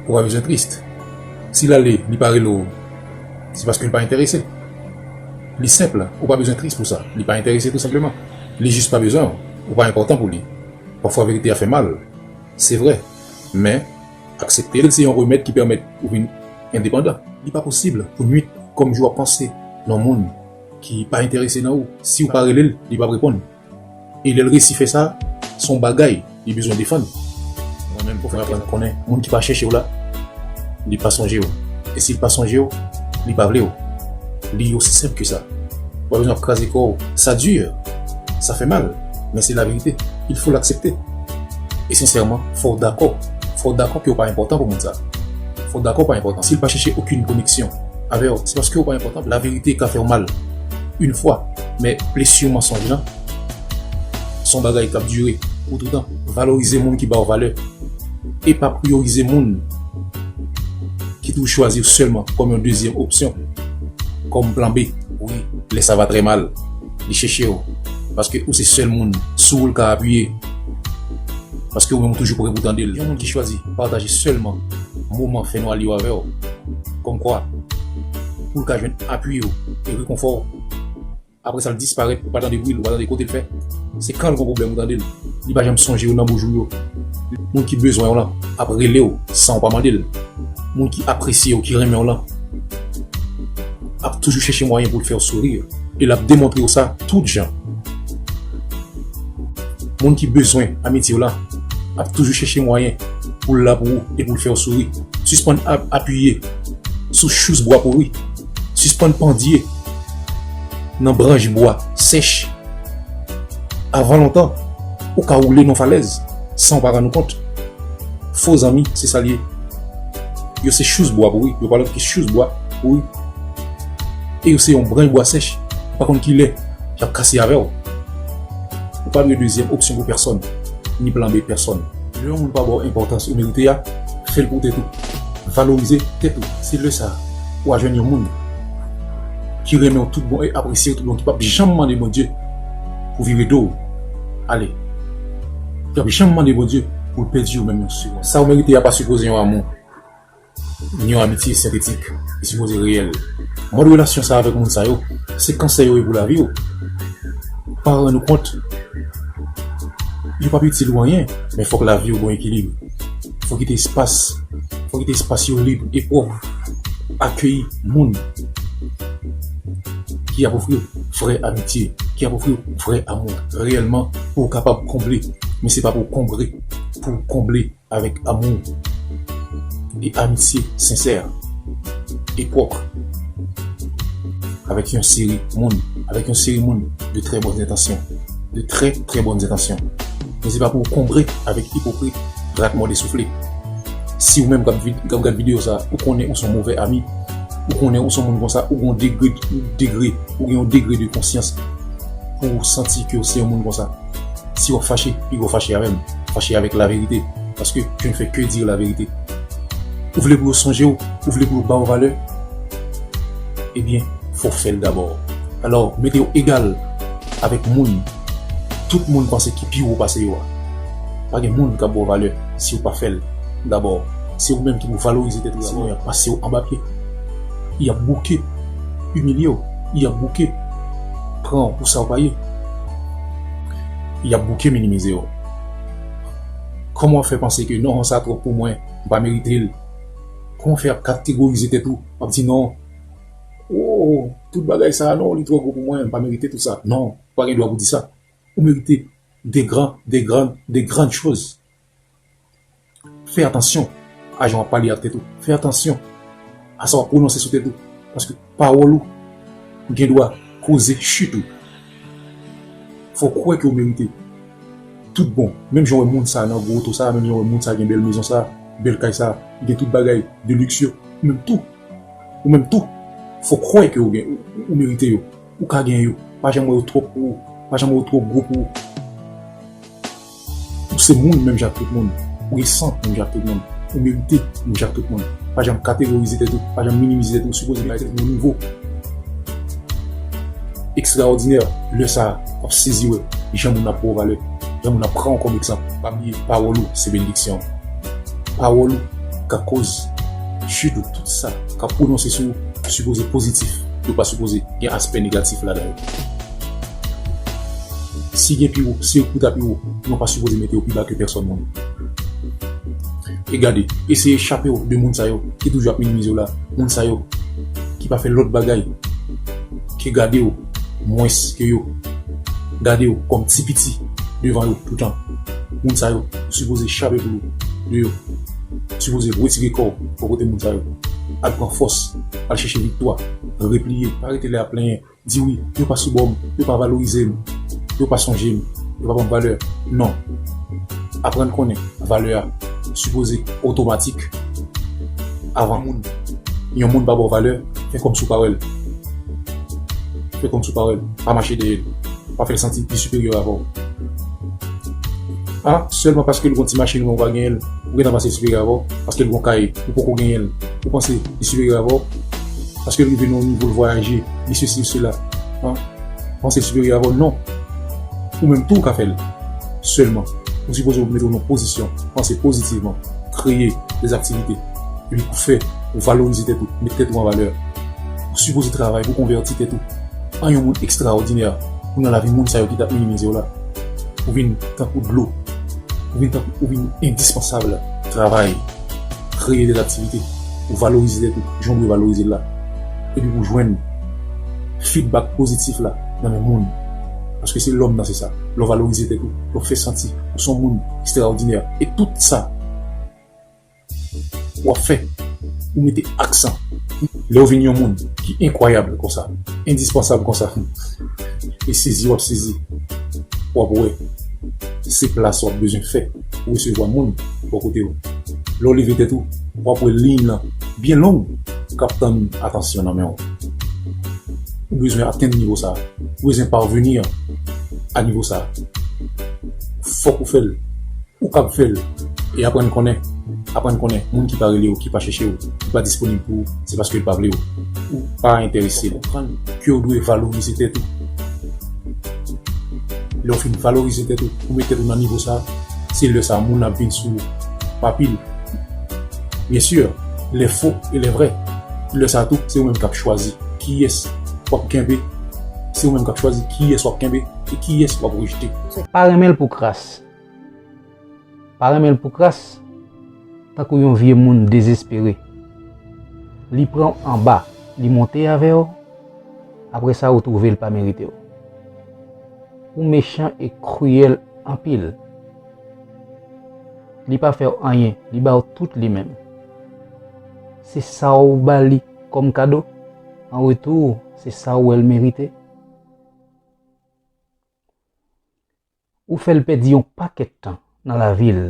Ou pa bezwen triste. Si l ale, li pa rele w, se paske li pa enterese. Li senp, ou pa bezwen triste pou sa. Li pa enterese tou senpleman. Li jis pa bezwen w. Ou pa enpòtan pou li. Pafwa verite a fè mal, se vre. Men, aksepte l se yon remèd ki pèmèt ou vin endepandan. Li pa posib pou nuit kòm jou ap panse nan moun ki pa enterese nan ou. Si ou pa rele l, li p ap reponn. E lè l resi fè sa, se yon bagay li bezwen defann. Mwen menm, mwen aprann konnen moun ki pa chèche w la, li pa sonje w. E si l pa sonje w, li pa vle w. Li osi senp ke sa. W ap jwenn w ap kraze kò w. Sa dur! Sa fè mal! Men se laverite. Il faut l'accepter. E sensèman, fò w dakò. Fò w dakò ke w pa enpòtan pou moun sa. Fò w dakò w pa enpòtan. Si l pa chèche okenn koneksyon avè w, se paske w pa enpòtan pou l. Laverite ka fè w mal. Une fois. Men blessure mensonge lan son bagay kap dure pou toutan. Valorize moun ki baw valè e pa priyorize moun ki tou chwazi w sèlman kòm yon dezyèm opsyon, kòm plan B. Wi, lè sa va trè mal, li chèche w paske ou se sèl moun sou ou l ka apiye, paske ou menm ou toujou prè pou tande l. Yon moun ki chwazi pataje sèlman moman fènwa li yo avè w, kòmkwa pou l ka jwenn apui w e rekonfò w. Aprè sa l disparèt ou pa tande bri l ou pa tande kote l fè se kan l gon pwoblèm ou tande l li pa janm sonje w nan bou jou l yo moun ki bezwen w lan ap rele w san w pa mande l moun ki apresye w ki renmen w lan ap toujou chèche mwayen pou l fè w souri e l ap demontre w sa tout jan moun ki bezwen amitye w lan ap toujou chèche mwayen pou l la pou ou e pou l fè w souri sispann ap apiye sou chouz bwa pouri. Sispann pandye nan branch bwa sèch. Avan lontan, ou ka woule nan yon falèz san ou pa rann ou kont. Fo zanmi, se sa l ye. Yo se chous bwa pou ou, yo pa lòt ke chous bwa pou ou. E yo se yon branch bwa sèch, ou pa konn ki lè y ap kase avè ou. Ou pa dwe dezyèm opsyon pou pèsòn, ni plan B pèsòn. Lè yon moun pa ba w enpòtans ou merite a, fè l pou tèt ou. Valorize tèt ou, se lè sa a. Wa jwenn yon moun ki renmen w tout bon e apresye w tout bon ki pap janm mande Bondye pou vire do w ale, ki pap janm mande Bondye pou l pèdi w menm yon segonn. Sa w merite a pa sipoze yon amou, ni yon amitye sentetik, li sipoze reyèl. Mòd relasyon sa avèk moun sa yo, se kansè yo ye pou lavi w. Pa rann ou kont, yo pap itil ou anyen, men fòk lavi w gon ekilib. Fò kite espas, fò kite espas yo lib e pwòp pou akeyi moun ki ap ofri vrè amitye, ki ap ofri vrè amou reyèlman pou ou kapab konble men se pa pou konbre, pou ou konble avèk amou e amitye sensè e pwòp avèk yon seri moun, avèk yon seri moun de trè bòn entansyon, de trè trè bòn entansyon. Men se pa pou w konbre avèk ipokrit, rat mòde soufle. Si ou menm k ap gad videyo sa, ou konnen ou s on movè ami, ou konnen ou s on moun konsa, ou gen yon degre, degre, ou gen yon degre de konsyans pou w santi ke w se yon moun konsa. Si w ap fache, piga w fache avè m, fache avèk laverite, paske je ne fais que dire la vérité. Ou vle pou yo sonje w, ou vle pou yo ba w valè, ebyen fò w fè l dabò. Alò, mete w egal. Avèk moun tout moun panse ki pi wo pase yo a. Pa gen moun k ap ba w valè si w pa fè l dabò. Se ou menm ki pou valorize tèt ou dabò. Sinon y ap pase w anba pye. Y ap bouke imilye w. Y ap bouke pran w pou sa w pa ye. Y ap bouke minimize w. Kòman w ap fè panse ke non sa twòp pou mwen, m pa merite l. Kòman w fè ap kategorize tèt ou, w ap di non. Ooh tout bagay sa non li trò gwo pou mwen m pa merite tout sa non ou pa gen dwa pou di sa ou merite de gran de gran de grand choz fè atansyon a jan wap pale ak tèt ou fè atansyon a sa wap pwononse sou tèt ou paske pawòl ou gen dwa koze chit ou fò kwè ke ou merite tout bon menm jan wè moun sa nan gwo oto sa menm jan wè moun sa gen bèl mezon sa bèl kay sa gen tout bagay de liks yo ou menm tou. Ou menm tou fòk kwè ke ou merite yo, ou ka gen yo, pa janm wè yo twòp pou ou, pa janm wè yo twò gwo pou ou. Ou se moun menm jan ak tout moun, ou gen san menm jan ak tout moun, ou merite menm jan ak tout moun. Pa janm kategorize tèt ou, pa janm minimize tèt ou, ou sipoze bay tèt ou yon nivo ekstraòdinè. Lè sa a, w ap sezi wè jan moun ap ba w valè, jan moun ap pran w kòm egzanp. Pa bliye pawòl ou se benediksyon w, pawòl ou ka koz. Sitou tout sa k ap pwononse sou ou sipoze pozitif, yo pa sipoze gen aspè negatif ladan yo. Si gen pi wo, se ou ta pi wo, nou pa sipoze mete ou pi ba ke pèsòn moun. E gade, eseye chape w de moun sa yo ki toujou ap minimize w la, moun sa yo ki pa fè lòt bagay ke gade w mwens ke yo, gade w kòm ti piti devan yo toutan. Moun sa yo, ou sipoze chape pou ou de yo. Sipoze retire kòw bò kote moun sa yo. Al pran fòs, al chèche viktwa, repliye, pa rete lè yap plenyen, di wi, yo pa sou bòm, yo pa valorizem, yo pa sonjem, yo pa banm valè, non. Aprann konnen valè a sipoze otomatik avan moun. Yon moun pa baw valè, fè kòmsi ou pa wèl. Fè kòmsi ou pa wèl, pa mache dèyèl. pa fèl santi l pi siperyè avè w ah sèlman paske l gon ti machin men w pa genyen l ou gentan panse l siperyè avè w paske l gon kay ou poko genyen l ou panse li siperyè avè w paske l rive nan yon nivo l vwayaje li sesi li sela ah panse l siperyè avè w non ou menm tou w ka fèl sèlman ou sipoze w mete w nan pozisyon panse pozitivman kreye des aktivite epi pou fè ou valorize tèt ou met tèt ou an valè ou sipoze travay pou konvèti tèt ou. an yon moun ekstraòdinè ou nan lavi moun sa yo ki tap minimize w la. Ou vin tankou dlo. Ou vin tankou ou vin endispansab. Travay, kreye de laktivite pou valorize tèt ou jan w dwe valorize l la epi pou jwenn fidbak pozitif la nan men moun paske se lòm nan se sa lè w valorize tèt ou lè w fè santi ou son moun ekstraòdinè e tout sa Wap fè ou mete aksan lèw vin yon moun ki enkwayab konsa, endispansab konsa e sezi wap sezi wap wè se plas wap bezwen fè pou resevwa moun bò kotew. Lèw leve tèt ou wap wè liyn lan byen long kap tann atansyon nan menw. Ou bezwen atenn nivo sa, ou bezwen parvenir a nivo sa fòk ou fèl. Ou kab fè l. E aprann konnen. Aprann konnen, moun ki pa rele w, ki pa chèche w, ki pa disponib pou ou, se paske l pa vle w. Ou pa enterese l. Konprann ke w dwe valorize tèt ou. Lè w fin valorize tèt ou, ou met tèt ou nan nivo sa, se lè sa moun ap vin sou ou pa pil. Byen si, lè fo e lè vrè. Lè sa tou, se ou menm k ap chwazi kiyès w ap kenbe, se ou menm k ap chwazi kiyès w ap kenbe e kiyès w ap rejte. Pa renmen l pou kras. Pa renmen l pou kras, tankou yon vye moun dezespere. Li pran w anba, li monte avè w, apre sa ou twouve l pa merite w. Ou mechan e kriyèl anpil. Li pa fè w anyen, li ba w tout li menm. Se sa w ba li kòm kado, an retou se sa w wè l merite. Ou fèl pèdi yon pakèt tan nan lavil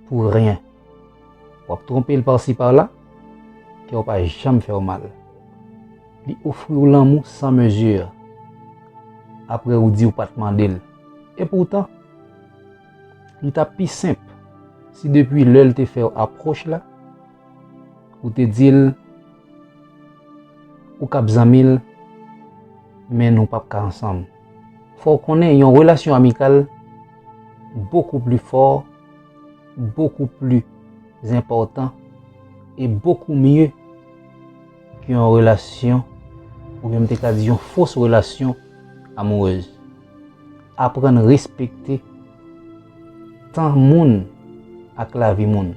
pou ryen wap tronpel parsi parla kèw pa janm fèw mal li ofriw lanmou san mesure aprè ou di ou pat mandel epoutan li tap pi senp si depui lèl te fèw aproch la ou te dil ou kap zanmil men nou pap ka ansanm. Fò w konnen yon relasyon amikal bokou pli fò, bokou pli zenpòtan e bokou mye ke yon relasyon ou byen m te ka di yon fos relasyon amourez. Aprann respekte tan moun ak lavi moun.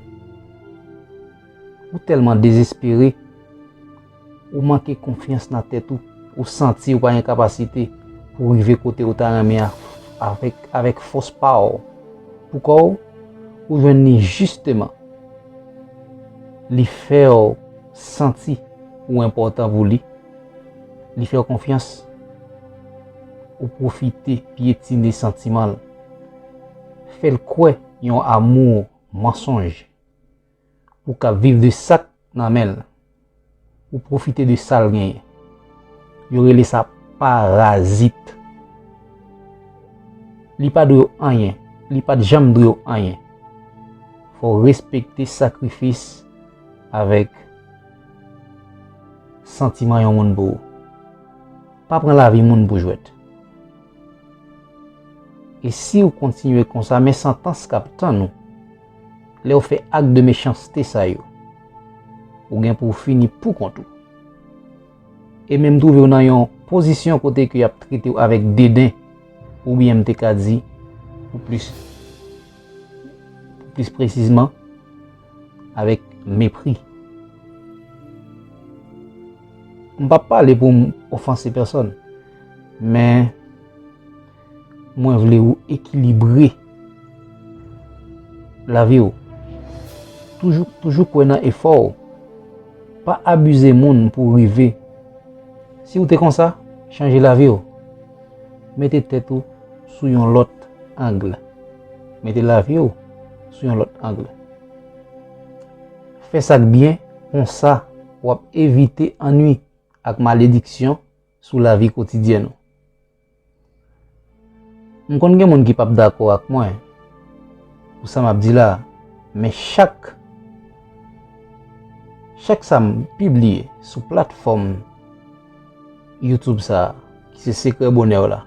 Ou tèlman dezespere. Ou manke konfyans nan tèt ou, ou santi ou pa gen kapasite pou rive kote ou ta renmen a avèk avèk fòs pa ou. Pou kò ou, ou jwenn li jisteman. Li fè ou santi ou enpòtan pou li. Li fè ou konfyans. Ou pwofite pyetine santiman l. Fè l kwè yon amou mansonj. Ou ka viv de sak nan menl. Ou profite de sal genyen. Yo rele sa parazit. Li pa dwew anyen. Li pat janm dwew anyen. Fow respekte sakrifis avek santiman yon moun pou ou. Pa pran lavi moun pou jwet. E siw kontinye konsa men santans kap tann ou. Lè ou fè ak de mechanste sa yo, ou gen pou ou fini pou kont ou. E menm twouve ou nan yon pozisyon kote ke y ap trete ou avèk deden, oubyen m te ka di, pou plis presizman, avèk mepri. M pa pale pou m ofanse pèsòn, men, Mwen vle ou ekilibre lavi ou. Toujou kwè nan efò ou. Pa abize moun pou ou rive. Si ou te konsa, chanje lavi ou. Mete tèt ou sou yon lòt angle. Mete lavi ou sou yon lòt angle. Fè sa k byen, konsa w ap evite anwi ak malediksyon sou lavi kotidyen ou. M konn gen moun ki pap dakò ak mwen pou sa map di la men chak chak sa m pibliye sou platfòm youtube sa ki se sekrè bonèw la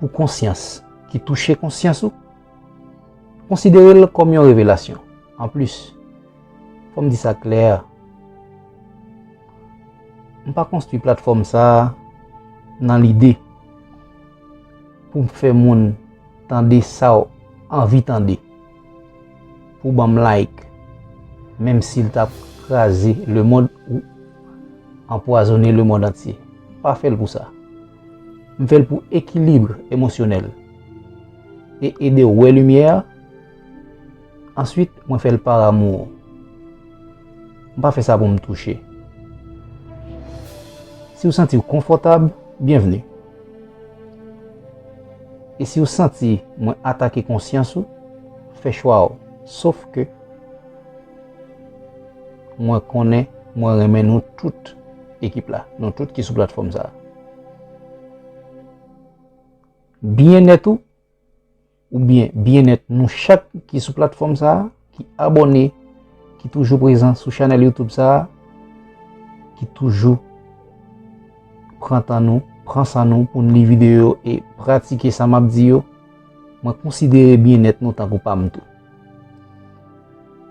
pou konsyans ki touche konsyans ou Konsidere l kòm yon revelasyon. Anplis, fò m di sa klè, m pa konstwi platfòm sa a nan lide pou m fè moun tande sa w anvi tande, pou w ban m like, menm si l t ap kraze lemonn ou anpwazone lemonn antye. M pa fè l pou sa. M fè l pou ekilibre emosyonèl e ede w wè limyè. Answit mwen fè l par amour. M pa fè sa pou m touche. Si w santi w konfòtab, byenvni. E si w santi mwen atake konsyans ou, fè chwa w. Sof ke. Mwen konnen mwen renmen nou tout ekip la, nou tout ki sou platfòm sa. Byenèt ou, ou byen byenèt nou chak ki sou platfòm sa, ki abone, ki toujou prezan sou chanèl YouTube sa, ki toujou pran tan nou, pran san nou pou nou li videyo e pratike sa map di yo, mwen konsidere byenèt nou tankou pa m tou.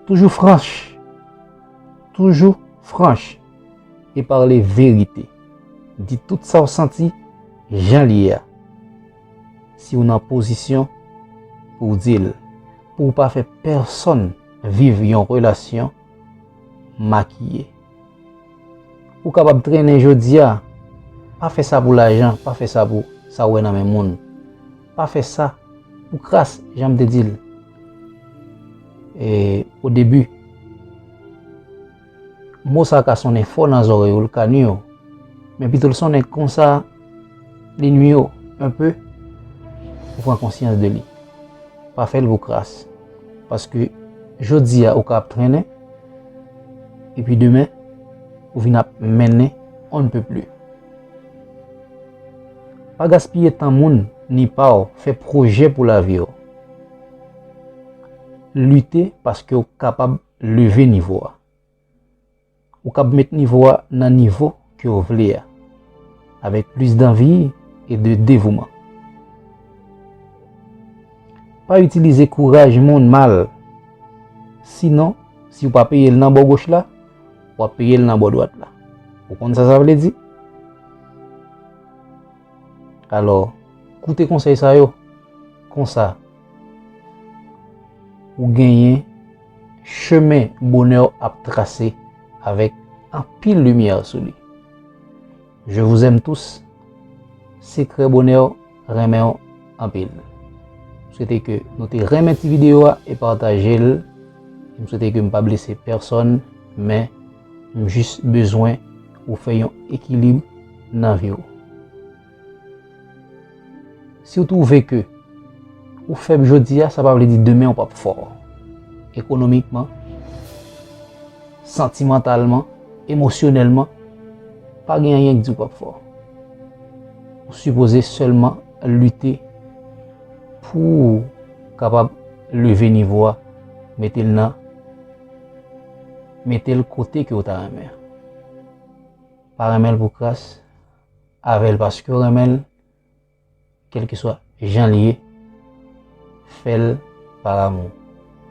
Toujou franch. Toujou franch e pale verite. Di tout sa w santi jan l ye a. Si w nan pozisyon pou w di l, pou w pa fè pèsonn viv yon relasyon makiye. Ou kapab trennen jodi a. Pa fè sa pou lajan, pa fè sa pou sa ou wè nan men moun. Pa fè sa pou kras, jan m te di l odebi. Mo sa a ka sonnen fò nan zòrèy ou, l ka nui w. Men pito l sonnen konsa. Li nwi w un peu, ou pran konsyans de li. Pa fè l pou kras. Paske jodi a ou ka ap trennen, epi demen ou vin ap mennen on ne peut plus. Pa gaspiye tan moun ni pa w, fè pwojè pou lavi w. Lite paske ou kapab leve nivo a. Ou kab met nivo a nan nivo ke ou vle a, avèk plis danvi e de devouman. Pa itilize kouraj moun mal, sinon, si ou pa peye l nan bò goch la, w ap peye l nan bò dwat la. Ou konn sa sa vle di? Alò, koute konsèy sa yo, konsa, Ou genyen chemen bonè w ap trase avèk anpil limyè sou li. Je vous aime tous. Sekrè bonè w renmen w anpil. M swete ke nou te renmen ti videyo a e pataje l. M swete ke m pa blese pèsòn men m jis bezwen ou fè yon ekilib nan vi w. Si w twouve ke ou fèb jodi a, sa pa vle di demen ou pap fò. Ekonomikman, santimantalman, emosyonèlman, pa gen anyen ki di ou pap fò. Ou sipoze sèlman lite pou ou kapab leve nivo a, mete l nan, mete l kote ke ou ta renmen. Pa renmen l pou kras. Avèl paskew renmenl kelkeswa janl ye fèl par amour.